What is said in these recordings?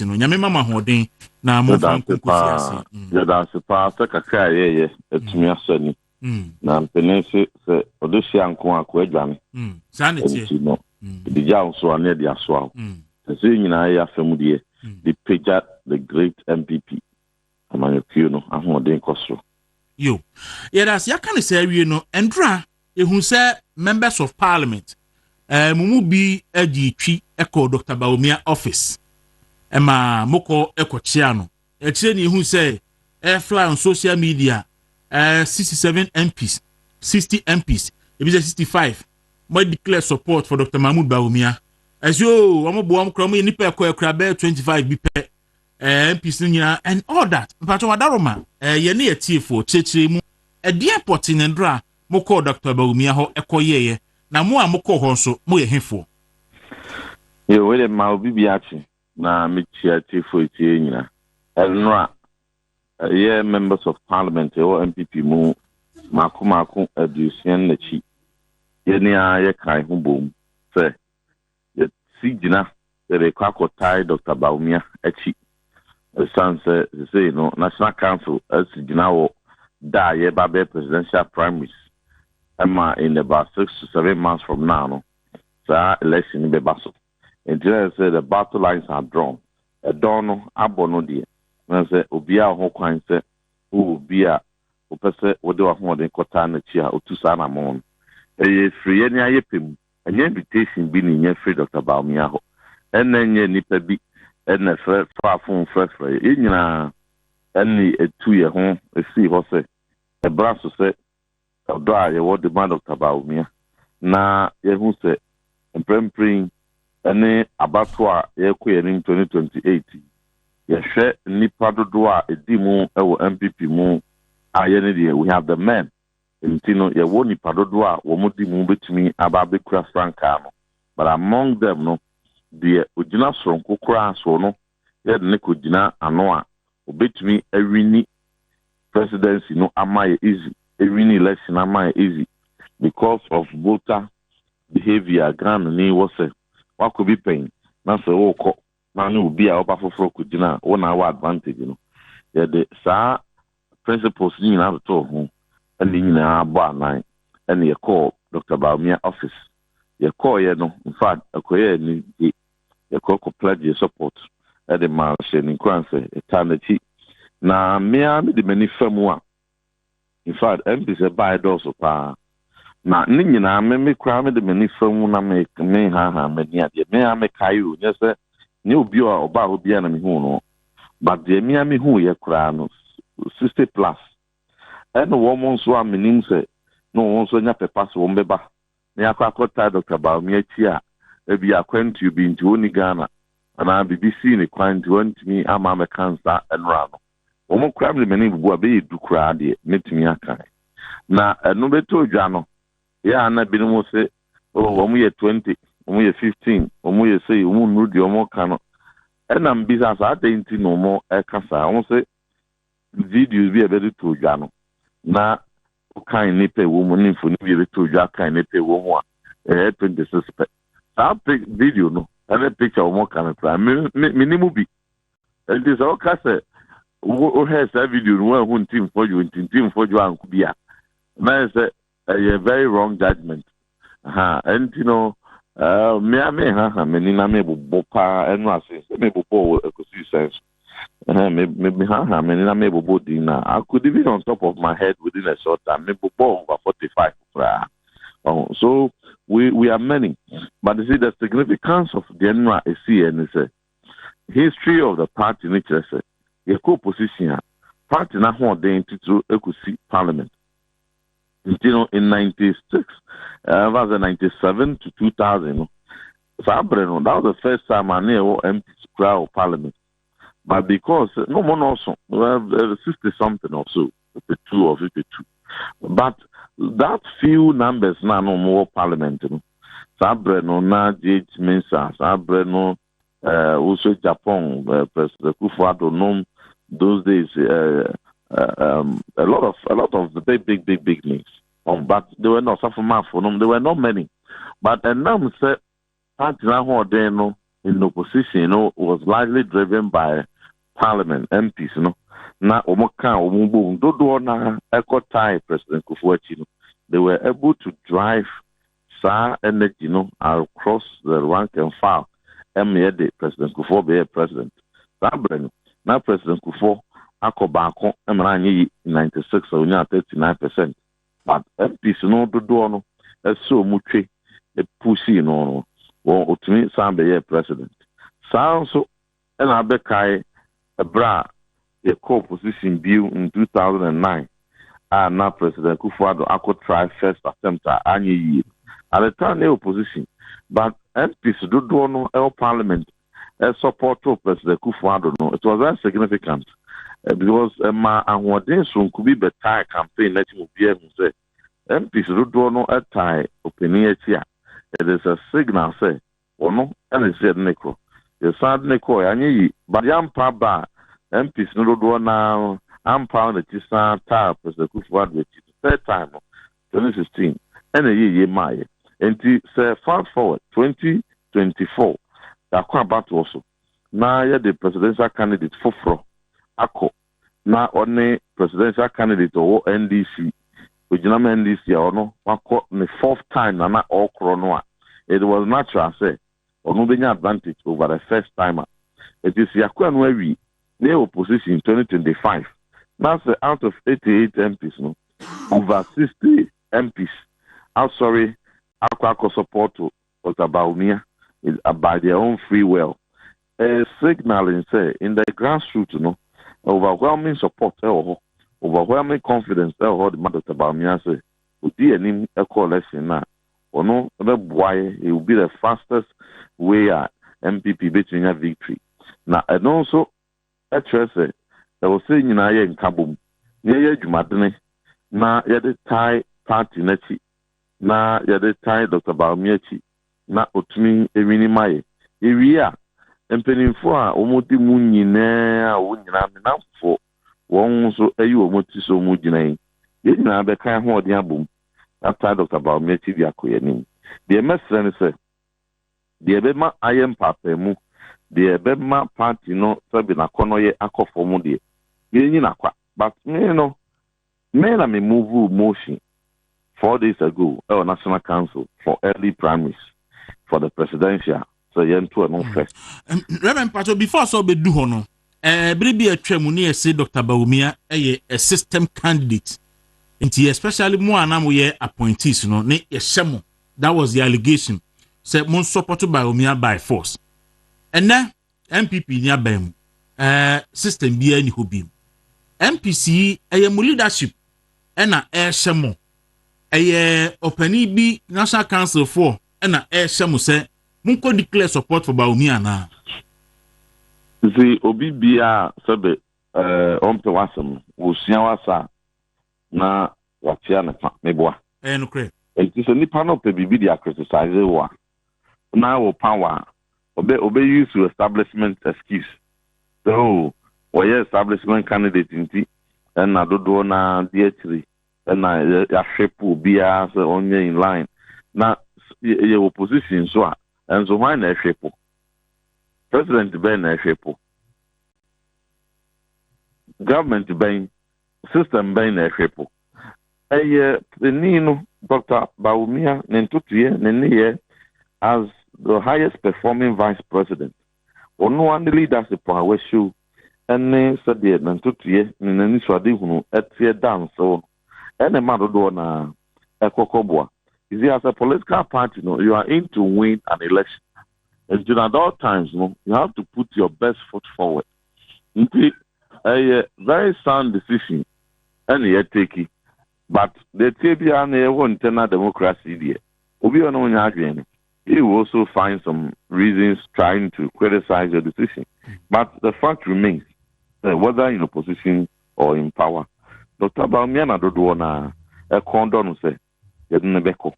ase no. Nyame ma mo ahoɔden na mo nfa nko nkosi ase. Mm. Yɛda ase paa sɛ kakra a yɛyɛ atumi mm. asɔ ani. Mm. Na mpene se sɛ ɔde hyia nko a ko adwane. Mm. Saa ne teɛ. Ɛnti no, ɛde gya wo so a ne ɛde asoa wo. Ɛsɛ nyinaa yɛ asɛm deɛ, de pagya the great MPP. amanyɔkuo no ahoɔden kɔ soro. Yo. Yɛda ase. Yɛaka no saa wie no, Ndura, yɛhu sɛ Members of Parliament, eh, mo mu bi gyee twi kɔɔ Dɔkta Bawumia office ma mokɔ kɔkyea no. Akyire ne yɛhu sɛ eh, fly on social media, eh, 67 MPs, 60 MPs, ebi sɛ 65, mo declare support for Dr. Mahmoud Bawumia. Ɛsɛ o, wɔn boa wɔn kora, wɔn yɛ nipa ɛkɔ ɛkora bɛyɛ 25 bi pɛ. ɛɛ mps no nyinaa and all that mpatsɔ wadaroma ɛɛ yɛn ne yɛ tiefoɔ kyerɛkyerɛ mu ɛdeɛn pɔte ne ndorɔ a mo kɔɔ dɔkta bawumia hɔ ɛkɔ yɛɛyɛ na mo a mo kɔɔ hɔ nso mo yɛ hefoɔ. Yo wei de ma obi bi ate na me kyia tiefoɔ etie nyina ɛnora ɛyɛ members of parliament ɛwɔ mpp mu maako maako aduosia ne nakyi yɛne a yɛ kan ho bom sɛ Yɛasi gyina sɛ yɛbɛkɔ akɔtae Dɔkta Bawumia akyi esiane sɛ seesei no National Council asi gyina wɔ da a yɛreba abɛyɛ Presidential Primaries ma in about six to seven months from now no saa election no bɛba so. Enti na ɛsɛ sɛ the battle lines are drawn. Ɛdɔn no abɔ no deɛ na sɛ obiara wɔ ho kwan sɛ wowɔ obi a wopɛ sɛ wode w'ahoɔden kɔtaa n'akyi a ɔtu saa anammɔn no. Ɛyɛ firi yɛn ani ayɛ pɛ mu Ɛnyɛ invitation bi na inya firi Dɔkta Bawumia hɔ, ɛna ɛnyɛ nnipa bi na ɛfrɛ faa fon frɛfrɛɛ yɛn. Yɛn nyinaa na yɛatu yɛn ho asii hɔ sɛ ɛbra so sɛ ɔdɔ a yɛwɔ de ma Dɔkta Bawumia na yɛahu sɛ mprempren yi ne abatoɔ a yɛrekɔ yɛn anim 2028 yi, yɛhwɛ nnipa dodoɔ a ɛdi mu wɔ NPP mu a yɛn ne deɛ we have the men. nti no yɛwɔ nnipa dodoɔ a wɔn de mu bɛtumi aba abɛkura frankaa no, but among them no, deɛ ɔgyina soronko koraa soɔ no yɛde no kɔgyina ano a ɔbɛtumi awini presidency no ama yɛ easy, awini election ama yɛ easy because of voter behaviour a Ghanani wɔ sɛ wakɔ bi pɛn na sɛ wokɔ na ne obi a ɔba foforɔ kɔgyina wo na awɔ advantage no, yɛde saa principles no nyinaa totoo ho ne ne nyinaa bɔ anan ne yɛkɔɔ Doctor Bawumia office. Yɛkɔeɛ no, in fact, ɛkɔyɛɛ anigye. Yɛkɔ kɔ pledgee support de maa no, hyɛɛ no nkuran sɛ yɛtaa n'akyi. Na me ara mede m'ani fa mu a, In fact, MPs ɛbaeɛ dɔɔso paa. Na ne nyinaa me me koraa mede m'ani fa mu na me menhaahaa m'ani adeɛ. Me ara mekae o, nyɛ sɛ nyɛ obi a ɔbaa hɔ biara na mehuu no. But deɛ me ara mehuuiɛ koraa no, sixty plus. Ɛna wɔn nso a menim sɛ na wɔn nso anya pɛ pa sɛ wɔbɛba na yɛakɔ akɔtaa Dɔkta Bawumia akyi a, ebia akwantuo bi nti ɔnni Ghana anaa biribi sii no kwan nti wantumi amma ammɛka nsa nnora no. Wɔn koraa mede m'ani bubu a, ɛbɛyɛ du koraa deɛ mɛtumi aka. Na ɛno bɛtɔ dwa no, yɛ a na binom se, Oh, wɔyɛ twenty, wɔyɛ fifteen, wɔyɛ sei, wɔnnuru deɛ wɔreka no. Ɛnna mebisaa sɛ, adɛn nti na wɔreka saa? Wɔse videos bi a yɛde too dwa no, na wokan nnipa a ɛwɔ mu ne mfoni bi a ɛbɛtɔ dwa kan nnipa a ɛwɔ mu a ɛyɛ twenty six pɛ saa pe video no ɛne picture wɔn ka no koraa me me me ne mu bi nti sɛ woka sɛ wohwɛ saa video no woahu nti mfɔdwo nti nti mfɔdwo anko bi a na yɛ sɛ ɛyɛ very wrong judgment Ha, ɛnti no, ɛɛ, mmea me haha m'ani na me bobo paa ɛno ase sɛ me bobo wɔ ɛkɔsi sɛn so. Ɛhɛn, me me me haha m'ani na me bobo din na I could even on top of my head within a short time me bobo over forty five koraa. Oh, so we we are many, but you see the significance of the ɛno a esi yɛ ne sɛ history of the party ne kyerɛ sɛ yɛkɔ opposition a party n'ahoɔden titiriw ɛkɔsi parliament. Nti no, in ninety six, ɛmfa eh, sɛ ninety seven to two thousand no, saa bere no, that was the first time a ne yɛwɔ MPs koraa wɔ parliament. But because no mo nɔɔso, eh, sixty something or so, fifty two or fifty two. But that few numbers na no mo wɔ parliament no, saa bere no na JH Mensah, saa bere no eh, wo so Japan, eh, President Kufuor nom, those days, eh, eh, um, a lot of, a lot of the big, big, big, big names. Um, but they were not, Safo Mafo nom, they were not many. But Enam said, Patina Horden no, in opposition, you know, was largely driven by parliament, MPs, you know. na wɔn ka wɔn bom dodoɔ na ɛkɔ tie president kofoɔ akyi no they were able to drive Saa energy no I'll cross the rank and file ɛmmeɛ de President Kufuor beyɛɛ President. Saa berɛ no na President Kufuor akɔ baako ɛma na anyɛ yi in ninety six a ɔnyaa thirty nine percent. But MPs no dodoɔ no ɛsɛ ɔmo twe pushii no no wɔn ɔtumi san bɛyɛɛ President. Saa nso na abɛkae bere a yɛkɔɔ position bio in two thousand and nine a na President Akufo Addo akɔ try first attempt a anyɛ yie no. At the time na yɛwɔ position but MPs dodoɔ no wɔ parliament supportoo President Akufo Addo no it was very significant because ɛmaa ahoɔden soronko bi bɛtae campaign no akyi ma obiara hu sɛ MPs dodoɔ no tae ɔpanin akyi a it is a signal sɛ Ɔno na ɛsɛ sɛ yɛde no kɔ. Yɛsan de no kɔe a, anyɛ yie. But yɛampa aba a, MPs no dodoɔ no ara ampa wɔn akyi san taa President Akufo Addo akyi. The third time no, twenty sixteen, ɛna ɛyɛɛ yie maeɛ. Enti sɛ fast forward twenty twenty four, yɛakɔ abatoɔ so na yɛde Presidential candidate foforɔ akɔ na ɔne presidential candidate a ɔwɔ NDC, ogyina ma NDC a ɔno wakɔ ne fourth time na na ɔrekorɔ no a, it was natural sɛ ɔno bɛnya advantage over the first timer. Nti sɛ yɛakɔ ɛno awie na yɛyɛ opposition 2025 na sɛ out of 88 MPs no, over 60 MPs asɔre akɔ akɔ support But about Mia is by their own free well ɛyɛ signalling sɛ in the grassroot no overwhelming support ɛwɔ hɔ, overwhelming confidence ɛwɔ hɔ de ma Doctor Bawumia sɛ odi anim ɛkɔ election no a ɔno ɛbɛboa yɛ he will be the fastest way a NPP bɛtumi anya victory na ɛno nso kyerɛ sɛ ɛwɔ sɛ yɛn nyinaa yɛ nkabom na yɛyɛ adwumadene na yɛde tae party no akyi na yɛde tae Dɔkta Bawumia akyi na ɔtumi wini ma yɛn. Yɛwie a, mpaninfoɔ a wɔdi mu nyinaa a wɔn nyinaa me nnamfofoɔ, wɔn nso ayi wɔn ti sɛ wɔn gyina yi, yɛn nyinaa bɛka yɛn ahoɔden abom atae Dɔkta Bawumia akyi de akɔ yɛn anim. Deɛ mɛsrɛ ne sɛ, Deɛ ɛbɛma ayɛ mpaapaemu, deɛ ɛbɛma party no sɛbe n'akɔnnɔyɛ akɔ fam deɛ, yɛnyi no akwa. But me no, me na me movuu motion four days ago ɛwɔ National Council for early primaries for the presidential sɛ yɛnto ɛno first. Rev. Mpakyɛw, before sɛ ɔbɛdu hɔ no, Bere bi a atwa mu no yɛse Dɔkta Bawumia yɛ a system candidate nti especially mo a na mo yɛ appointees no ne yɛhyɛ mo that was the allegation sɛ mo support Bawumia by force ɛnɛ NPP ni aban mu ɛɛ system bi ani hɔ bi NPC ɛyɛ mo leadership ɛna ɛhyɛ mo ɛyɛ ɔpanin bi national council foɔ ɛna ɛhyɛ mo sɛ Monkɔ declare support for Bawumia anaa? Dze obi bia a sɛbe eh ɔmmpɛ w'asɛm no, osua w'asa a na ɔatsia no fa, meboa. Ɛyɛ nokorɛ. Ntsi sɛ nipa no pɛ biribi de a criticize wo a, na wo power a, ɔbɛ ɔbɛ use wo establishment excuse sɛ oh wɔyɛ establishment candidate ntsi na dodoɔ no ara di akyire na yɛahwɛ po obiara sɛ ɔnyɛ in line na yɛwɔ position nso a ɛnso hwan na ɛhwɛ po president bɛn na ɛhwɛ po government bɛn system bɛn na ɛhwɛ po ɛyɛ panin no dr bawumia ne ntotoyɛ ne nneyɛ as the highest performing vice president Ɔno ara ne leadership a wɔahyɛw ne sɛdeɛ ne ntotoeɛ ne n'anisoadehunu teɛ da nsew no na ɛma dodoɔ no ara kɔ kɔboa. You see as a political party no you are in to win an election nti no at all times no you have to put your best foot forward nti ɛyɛ very sound decision na yɛtake. But dɛtseɛ biara no yɛwɔ internal democracy deɛ obi a ɔne wo nyɛ adwene no he will also find some reasons trying to criticize your decision but the fact remains sɛ whether in opposition or in power Doctor Bawumia na dodoɔ no ara ɛkɔn dɔ no sɛ yɛde no bɛkɔ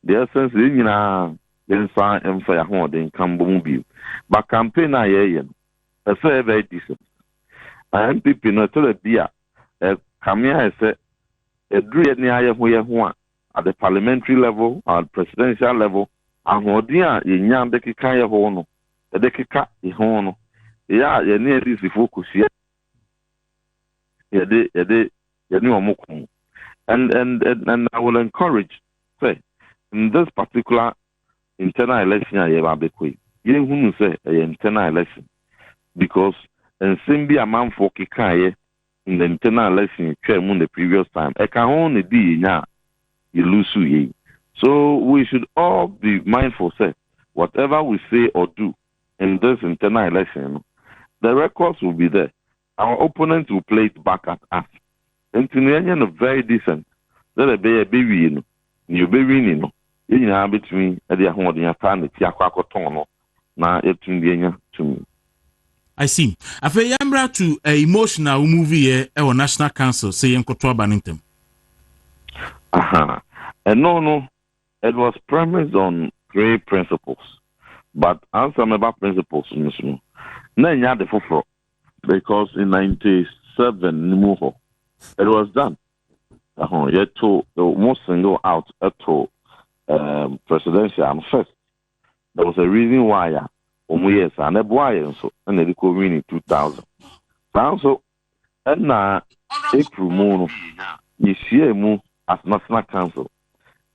the essence yɛn nyinaa yɛnsan mfa yɛn ahoɔden nka mbɔ mu bio but campaign a yɛreyɛ no ɛsɛ yɛ very decent na NPP no ɛtɔ da bi a Ɛkame ayɛ sɛ ɛduru yɛn ara yɛn ho yɛn ho a, at the parliamentary level, at presidential level, ahoɔden a yɛnya de keka yɛn ho no, yɛde keka yɛn ho no, ɛyɛ a yɛne NDCfoɔ kɔhyia na yɛde yɛde yɛne wɔn ko. And, and, and, and I will encourage, say, in this particular Ntɛn a election a yɛreba abɛkɔ yi, yɛnhunu sɛ ɛyɛ ntɛn a election because nsɛm bi a amanfoɔ kekaeɛ in the ntɛn a election twaa mu in the previous time, ɛka ho na ɛdii yɛn nya a yɛlusuiɛ yi. So we should all be mindful sɛ whatever we say or do in this ntɛn a election no, the records will be there. Our opponents will play it back at us, enti no yɛnyɛ no very decent sɛdeɛ ɛbɛyɛ a ɛbɛwie no, deɛ ɔbɛwini no, yɛn nyinaa bɛtumi de ahoɔden ataa n'akyi akɔ akɔtɔn no na yɛatumi de anya tumi. I see. Afei yɛmmra to uh, emotion a womuviiɛ wɔ National Council sɛ yɛnkɔto aba no ntɛm. Aha. Ɛno no, it was premised on three principles. But ansa mɛba principles no so no, na ɛnyɛ ade foforɔ. because in ninety seven ne mu hɔ it was done ɛho yɛto mo single out ɛto um, presidential first there was a reason why a wɔn yɛ saa na ɛboa yɛn nso ɛna ɛde kɔ win in two thousand saa nso ɛna april mu no yɛhyia mu as national council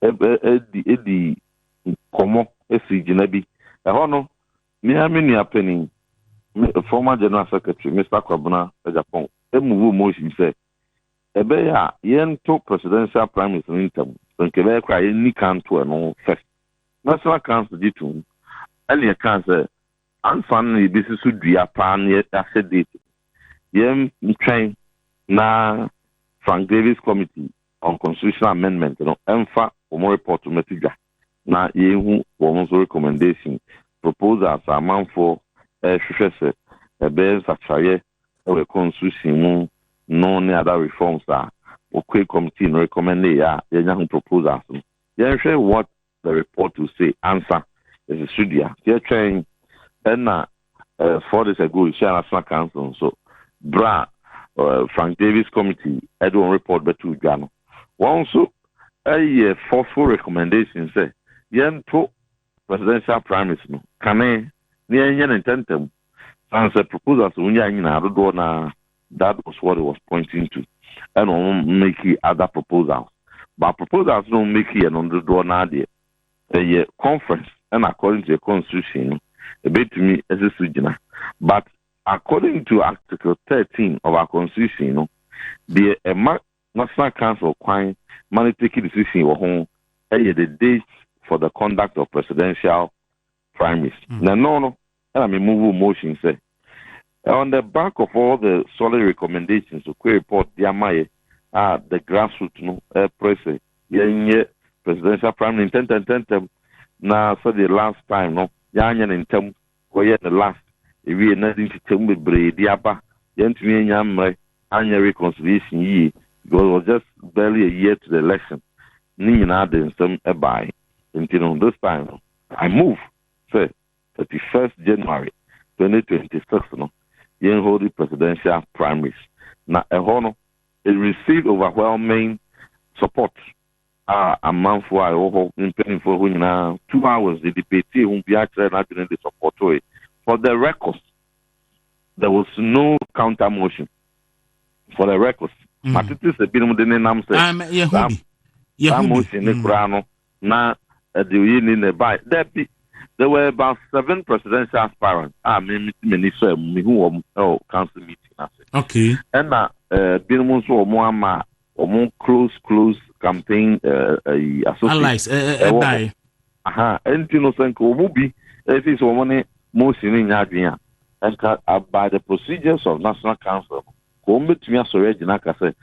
ɛdi ɛdi nkɔmɔ esi gyina bi ɛhɔ no. Me ara me nua panin, me former General Secretary, Mister Kwabena Agyapong, mmubu mu nsɛm sɛ, Ɛbɛyɛ a yɛnto Presidential Primaries no ntɛm, sɛ nka ɛbɛyɛ koraa a yɛnni kan nto ɛno first. National Council gye toom ɛne ɛkaa sɛ, Ansa na yɛbɛsi so dua paa na yɛahyɛ date no, yɛntwɛn na Frank Davis Committee on Constitutional Amendment no mfa wɔn report no mmɛto dwa. na yɛahu wɔn nso recommendation, proposals a amanfoɔ rehwehwɛ sɛ ɛbɛyɛ nsakyeraeɛ wɔ yɛn constitution mu no ne other reforms a Okoe committee no recommendee a yɛanya ho proposals no. Yɛnhwɛ what the report will say ansa. Yɛsɛ so dua. Nti yɛtwɛn na Four days ago yɛhyiaa National Council nso berɛ a Frank Davis Committee de wɔn report bɛtoo dwa no. Wɔn nso yɛ forceful recommendation sɛ yɛnto presidential primaries no kane na yɛnyɛ no ntɛmntɛm san sɛ proposals a wɔnyaa nyinaa dodoɔ no ara that was what it was pointing to ɛna wɔn make other proposals but proposals no wɔn make yɛ no dodoɔ no ara deɛ Sɛ yɛ conference ɛna according to yɛ constitution no ɛbɛtumi ɛsi so gyina but according to article thirteen of our constitution no deɛ ɛma national council kwan ma no take decision wɔ ho ɛyɛ the date for the conduct of presidential primaries na ɛno no ɛna me move motion sɛ on the back of all the solid recommendations okwe report de ama yɛ a the grassroots no ɛpere sɛ yɛnyɛ presidential primary ntɛntɛntɛntɛm na sɛdeɛ last time no yɛanyɛ ne ntɛm kɔyɛ ne last ewie na de nkyekyɛm bebree de aba yɛntumi anya mmerɛ anyɛ reconciliation yie because it was just barely a year to the election ne nyinaa de nsɛm ɛbae nti no this time no I move sɛ thirty first January twenty twenty six no yɛn hold presidential primaries na ɛhɔ no it received overwhelming support a amanfoɔ a ɛwɔ hɔ mpanimfoɔ hɔ nyinaa two hours de debatee ho biara kyerɛɛ n'adwene de supportoe for the record there was no counter motion for the record mm. matete sɛ binom de nenam sɛ saa motion ne mm. koraa no Na ɛde oyeni na ɛbae? Dabi. There were about seven presidential aspirants a me mete m'ani faa mu, mehuu wɔn wɔ council meeting no ase. Okay. Ɛna eh, binom nso wɔn ama wɔn close close campaign eh, eh, associates. Allies, eh, eh, ɛwɔ hɔ. Aha, ɛnti no sɛ nka wɔn bi ɛfi sɛ wɔn ne motion no nyɛ adwene a, ɛnka uh, by the procedures of national council, ka wɔn bɛtumi asɔre agyina aka sɛ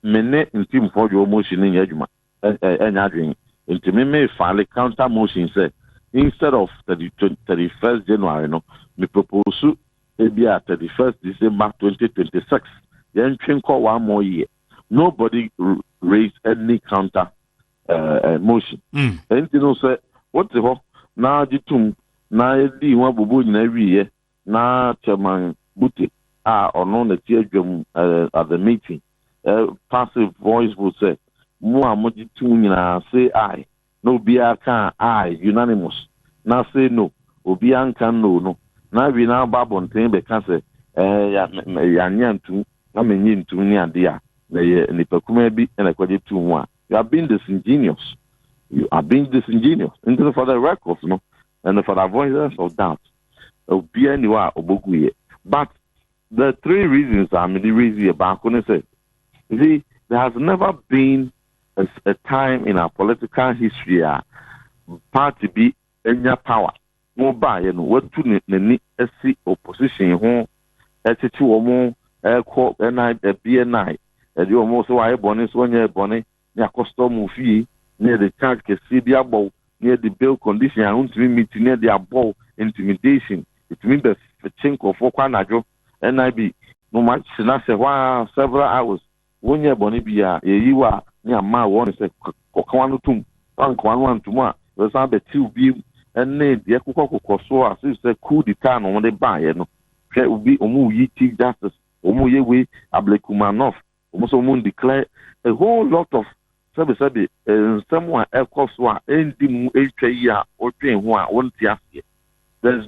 me ne ntimfoɔ dwe wɔn motion no nyɛ adwuma. ɛnyɛ adwene nti me me file counter motion sɛ instead of thirty thirty first January no me propose ebi a thirty first December twenty twenty six yɛn twe nkɔ one more year nobody raise any counter uh, uh, motion ɛnti mm. no sɛ wote hɔ na gye tom na yɛdii ho abobɔ nyinaa wieɛ na Chairman Bute a ɔno na ɛte adwam eh, at the meeting eh, passive voice vote sɛ mo a mogye tom nyinaa say aye na obiara ka aye unanimous na say no obiara nka no no na awie na aba abɔnten bɛka sɛ eh, ya, me, me, yɛanyɛ antum na menyɛ ntum ne adeɛ a na ɛyɛ nipa kumaa bi na ɛkɔgye tom mu a you are being disingenuous you are being disingenuous nti no for the records no and for the avoidance of doubt obiara nni hɔ a ɔbɛgu yɛ but the three reasons a mede raise yɛ baako ne sɛ you see there has never been a, a time in our political history a party bi anya power na ɔbaayɛ no watu n'ani asi opposition ho ɛkyekye wɔn ɛkɔ ɛna ɛbi ɛnae ɛde wɔn sɛ wɔayɛ bɔne so wɔnyɛ bɔne ne akɔstɔ mo fie ne yɛde charge kɛseɛ bi abɔ wo ne yɛde bail condition a wontumi meet ne yɛde abɔ wo intimidation ɛtumi bɛ kye nkurɔfoɔ kɔ anadwo NIB no ma hyena sɛ hɔ ara several hours wo nyɛɛ bɔne biara yɛyi wo a ne yɛama wo warning sɛ kɔ ka w'ano tom woanka w'ano antom a yɛbɛsan abɛkye wo biom ɛne deɛ kokɔ kokɔ so as if sɛ coup d'etat na wɔde baeɛ no hwɛ obi wɔn reyi chief justice wɔn reyɛ wei ablekumanoff Wɔn nso wɔn declare a whole lot of sɛbesɛbe nsɛm a ɛkɔ so a ɛndi mu ntwa yi a wodwen ho a wonte aseɛ. There is